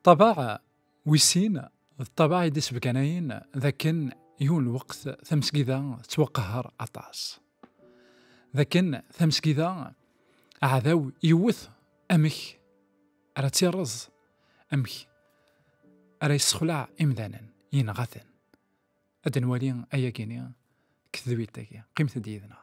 Ṭṭabaɛ wis sin d ṭṭabaɛ i d-isebganayen d akken yiwen lweqt tamesgida tettwaqehher aṭas. D akken tamesgida aɛdaw yewwet amek ara tt-irreẓ, amek ara yessexleɛ imdanen, yenɣa-ten. Ad nwali ayagi-ni deg tedwilt-agi. Qqimet-d yid-neɣ.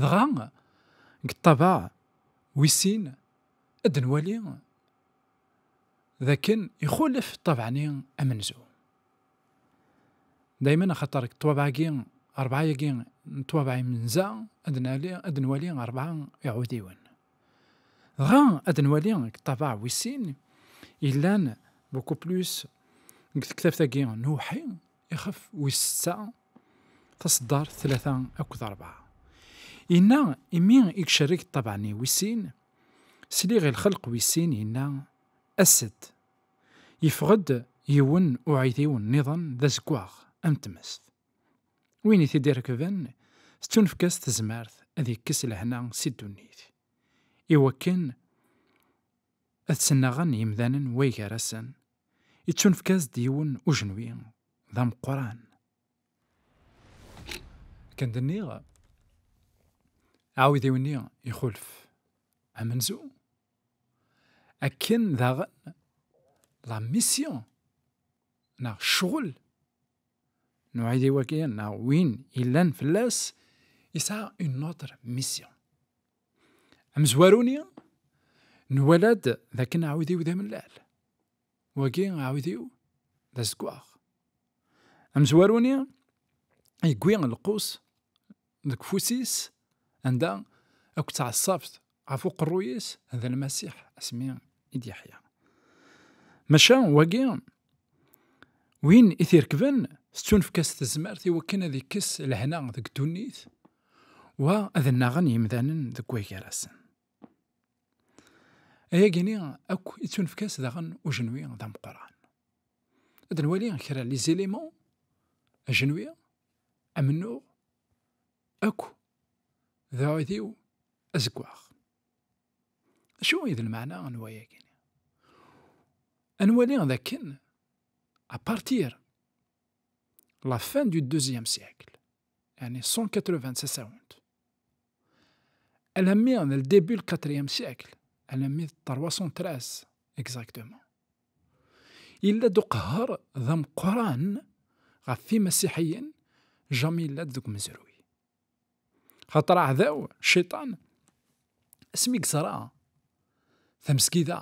Dɣa, deg ṭṭabaɛ wis sin, ad nwali d akken ixulef ṭṭabaɛ-nni amenzu. Daymen axaṭer deg ṭṭabaɛ-agi, rebɛa-agi n ṭṭabaɛ imenza, ad nali, ad nwali rebɛa iɛudiwen. Dɣa, ad nwali deg ṭṭabaɛ wis sin, yellan beaucoup plus deg tektabt-agi n uwḥi, Ixef wis setta, taṣeddart tlata akked rebɛa. Inna, imi i icerreg ṭṭabaɛni wis sin, sliɣ i lxelq wis sin inna, As-d! Yeffeɣ-d yiwen uɛidiw nniḍen d azeggaɣ am tmest. Win i t-id-irekben tettunefk-as tezmert ad ikkes lehna si ddunit, i wakken ad tt-nnaɣen yimdanen way gar-asen Ittunefk-as-d yiwen ujenwi d ameqqran. Kan d-nniɣ, aɛudiw-nni ixulef amenzu. Akken daɣen la mission neɣ ccɣel n uɛidiw-agi neɣ win yellan fell-as yesɛa une autre mission. Amezwaru-ni nwala-d d akken aɛudiw d amellal. Wagi aɛudiw d azeggaɣ. Amezwaru-ni yegwi lqus deg ufus-is anda akk ttɛaṣabt ɣef uqerruy-is d lmasiḥ asmi i d-yeḥya. Maca wagi Win i t-irekben, tettunefk-as tezmert i wakken ad ikkes lehna deg ddunit, wa ad nnaɣen yimdanen deg wagar-asen. Ayagi-nni akk i ttunefk-as daɣen ujenwi d ameqqran. Ad nwali kra n lizilima, ajenwi, amennuɣ, akk d uɛudiw azeggaɣ. Acu i d lmeɛna n wayagi? Ad nwali d akken à partir la fin du deuxième siècle, yani 180 tasawent, alammi d le début du quatrième siècle, alammi d 313 exactement, yella-d uqehher d ameqqran ɣef yimasiḥiyen, jami yella-d deg umezruy. Xaṭer aɛdaw, cciṭan, asmi yeẓra tamesgida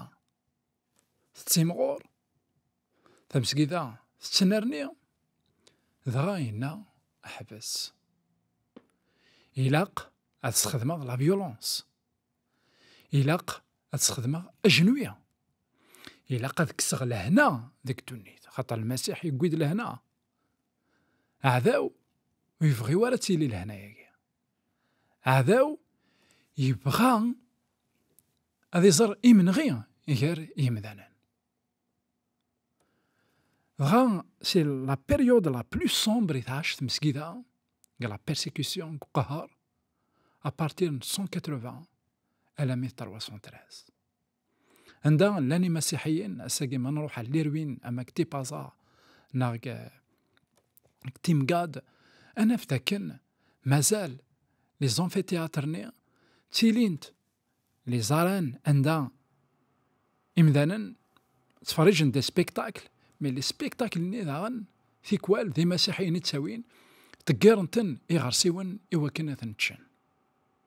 tettimɣur, tamesgida tettnerni, dɣa yenna ḥbes. Ilaq ad sxedmeɣ la violence. Ilaq ad sxedmeɣ ajenwi. Ilaq ad kkseɣ lehna deg ddunit. Xaṭer Lmasiḥ yewwi-d lehna. Aɛdaw ur yebɣi ara ad tili lehna-agi. Aɛdaw yebɣa ad iẓer imenɣi gar yimdanen. Dɣa, si la période la plus sombre i tɛac tmesgida deg la persécution, deg uqehher, à partir n 180 alammi d 313. Anda llan imasiḥiyen, ass-agi ma nruḥ ar Lirwin, ama deg Tipaza, neɣ deg Timgad, ad naf dakken mazal li zanfiteyatr-nni ttilint li zaran anda imdanen ttferrijen des spectacles, mais li spectacles-nni daɣen tikwal d imasiḥiyen i ttawin, ḍeggiren-ten iɣersiwen i wakken ad ten-ččen.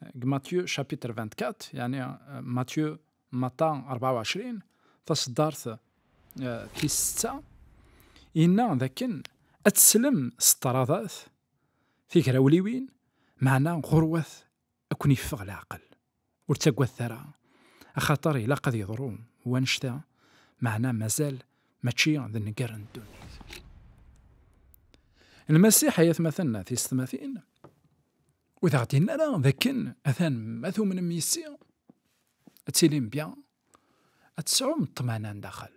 deg Matyu chapitre 24 yani Matyu Mata 24 taseddart tis setta yenna dakken ad teslem s ṭradat tigrawliwin meɛna ɣurwat ad ken yeffeɣ leɛqel ur ttagadet ara axaṭer ilaq ad yeḍru wanect-a meɛna mazal mačči d nnger n ddunit. Lmasiḥ ay atmaten tisetmatin Ur d-aɣ-d-yenna ara d akken atan ma tumnem yis-i ad tilim bya, ad tesɛum ṭṭmana n daxel,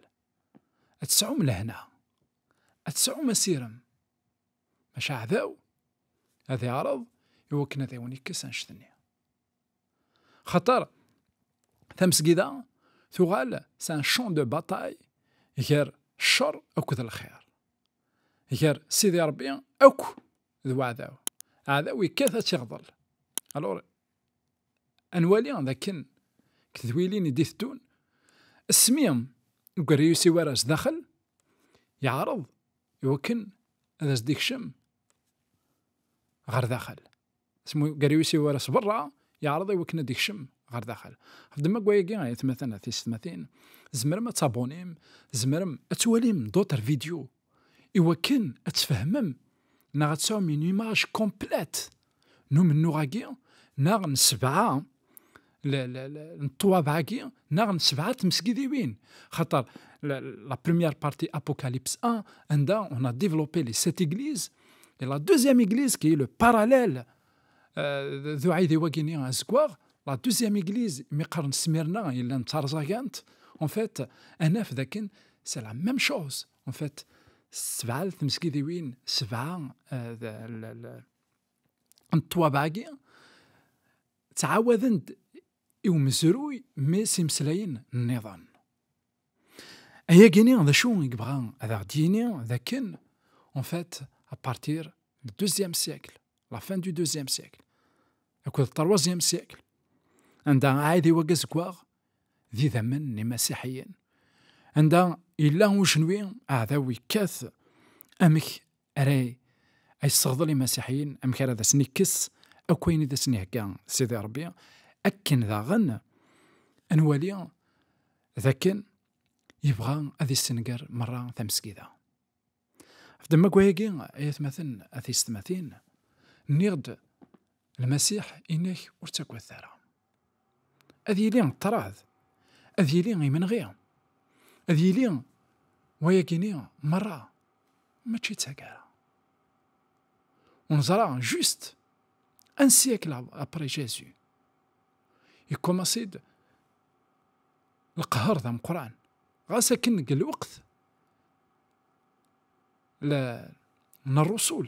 ad tesɛum lehna, ad tesɛum asirem, maca aɛdaw ad iɛreḍ i wakken ad awen-ikkes anect-nni. Xaṭer tamesgida tuɣal s un champ de bataille gar ccer akked lxir, gar Sidi Ṛebbi akk d waɛdaw aɛdaw yekkat ad tiɣḍel alors anwali dakken tedwilin i d-iteddun asmi ugerriyus i wara sdaxel yeɛreḍ iwakken ad as-d-ikcem ɣer daxel asmi ugerriyus i wara s berra yeɛreḍ iwakken ad d-ikcem ɣer daxel ɣef ddemma n wayagi ay atmaten at teysetmatin tzemrem ad tabunim tzemrem ad twalim d'autres vidéos i wakken ad tfehmem neɣ ad tesɛum une image complète n umennuɣ-agi neɣ n sebɛa n ṭṭwabeɛ-agi neɣ n sebɛa n tmesgidiwin xaṭer la première partie Apocalypse 1 anda on a développé les sept églises et la deuxième église qui est le parallèle d uɛidiw agini azeggaɣ la deuxième église mi qqaren Smirna yellan d tarẓagant en fait ad naf dakken c'est la même chose en fait sebɛa d tmesgidiwin sebɛa n ṭṭwabaɛgi ttɛawaden-d i umezruy mi s-imeslayen nniḍen Ayagini d acu i yebɣa ad aɣ-d-yini d akken en fait à partir du deuxième siècle la fin du deuxième siècle akked troisième siècle anda aɛidiw agazeggaɣ d idammen n imasiḥiyen anda yella ujenwi aɛdaw yekkat amek ara yesseɣḍel imasiḥiyen amek ara d asen-ikkes akk ayen i d asen-ihegga Sidi Ṛebbi akken daɣen ad nwali d akken yebɣa ad yessenger merra tamesgida. Ɣef demma gwayagi ay atmaten at yessetmatin nniɣ-d Lmasiḥ inek ur ttaggad ara. ad yili ṭṭrad, ad yili imenɣi, ad yili wayagini merra, mačči d tagara. Unẓra, just un siècle après Jésus, yekkumaṣi-d leqher d ameqran, ɣas akken deg lweqt n rrusul,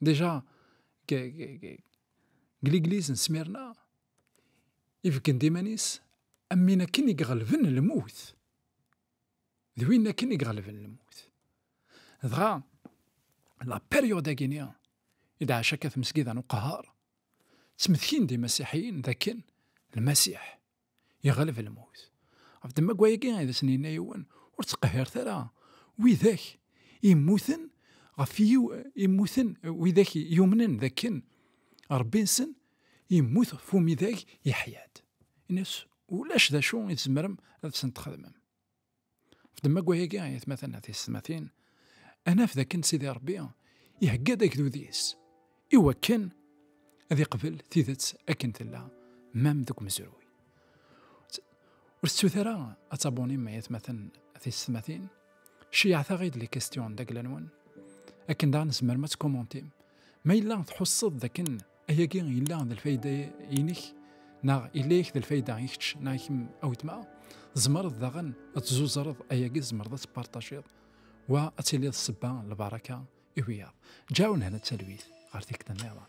Déjà, deg legliz n Smyrna, ibeggen-d iman-is am win akken i iɣelben lmut. D win akken i iɣelben lmut. Dɣa, la période-agi-ni, i d-ɛac akka tmesgida n uqehhar, ttmetkin-d imasiḥiyen d akken lmasiḥ, Iɣleb lmut. Ɣef ddemma-agi i d asen-yenna yiwen, ur ttqehhiret ara widak immuten ɣef yiw immuten widak yumnen dakken Rebbi-nsen immut ɣef umidag yeḥya-d. Ini-as ulac d acu i tzemrem ad sen-txedmem. F demmaggwa-agi, ay atmaten, ay tiyessetmatin, ad naf dakken Sidi Ṛebbi ihegga-d agdud-is i wakken ad iqbel tidet akken tella, mam deg umezruy. Ur tettut ara ad tabunim ay atmaten tisetmatin, ceyɛet-aɣ-id les questions d agla-nwen, akken daɣ nezmer ma tt-commentim, ma yella tḥusseḍ dakken Ayagi yella d lfayda-inek neɣ yella yak d lfayda i kečč neɣ i kemm a weltma tzemreḍ daɣen ad tzuẓreḍ ayagi tzemreḍ ad tpartajiḍ wa ad tiliḍ sebba lbaraka i wiyaḍ ǧaw nehna talwit ɣer tikta nniḍen